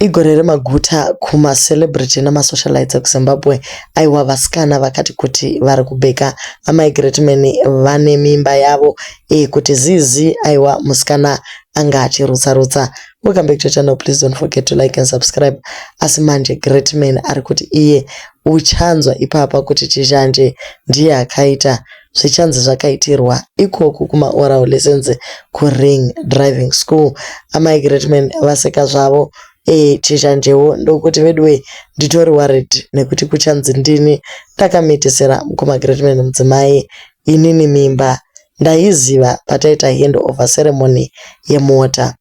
Igore remaguta kuma celebrity nema socialites ekuZimbabwe aiwa vasikana vakati kuti vari kubheka amai Greatman vane mimba yavo iyi kuti zizi aiwa musikana anga achirutsa rutsa Welcome back to channel please don't forget to like and subscribe asi manje Greatman ari kuti iye uchanzwa ipapa kuti chizhanje ndiye akaita zvichanzi zvakaitirwa ikoku kumaoral lessons kuring driving school amai greatman vaseka zvavo ee chichanjewo ndokuti veduwee nditori worried nekuti kuchanzi ndini ndakamitisira mukoma greatman mudzimai inini mimba ndaiziva pataita hand over ceremony yemota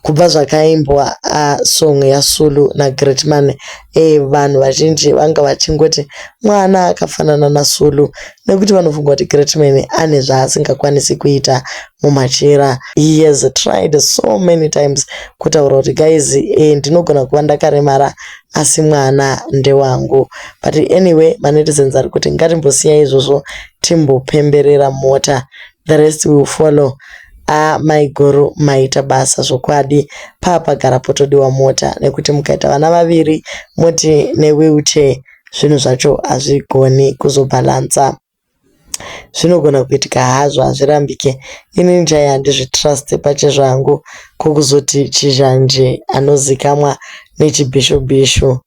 Kubva zvakaimbwa ah song yaSulu naGreatman eh vanhu vazhinji vanga vachingoti mwana akafanana naSulu nekuti vanofunga kuti Greatman ane zvaasingakwanisi kuita mumachira. He has tried so many times kutaura kuti guys eh ndinogona kuva ndakaremara asi mwana ndewangu. But anyway manetizens ari kuti ngatimbosiyai izvozvo timbopemberera mota the rest will follow haa maiguru maita basa zvokwadi paa pagara potodiwa mota nekuti mukaita vana vaviri moti newheelchair zvinhu zvacho hazvigoni kuzobhalansa zvinogona kuitika hazvo hazvirambike inini chaiye handizvitruste pachezvo hangu kokuzoti chizhanje anozikamwa nechibhishu bhishu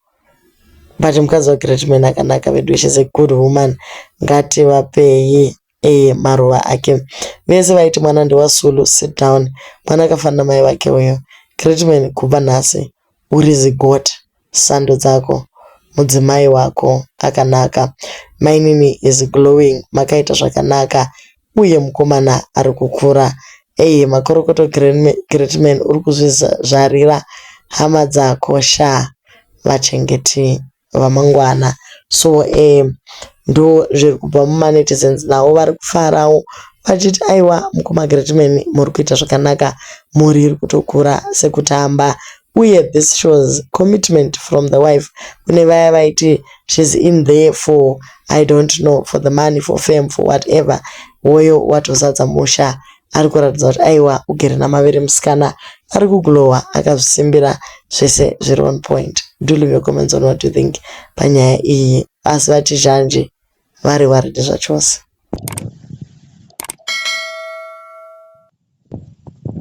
but mukadzi wagreatman akanaka vedu shes a good woman ngativapei Eeh maruva ake. Vese vaiti mwana ndewa Sulu sit down. Mwana akafanana na mai vake uyo. Great man kubva nhasi uri zigot. Sando dzako. Mudzimai wako akanaka. Mainini is glowing makaita zvakanaka uye mukomana ari kukura. Eeh makorokoto great man uri kuzvizvarira hama dzako shaa. Vachengeti vamangwana so umm ndozviri kubva muma netizens navo vari kufarawo vachiti aiwa mukoma Greatman muri kuita zvakanaka mhuri iri kutokura sekutamba uye this shows commitment from the wife kune vaya vaiti she's in there for I don't know for the money for fame for whatever hoyo watozadza musha ari kuratidza kuti aiwa ugere namavere musikana ari kuglowa akazvisimbira zvese zviri on point do leave your comments on what you think panyaya iyi asi vati zhanji vari waridi zvachose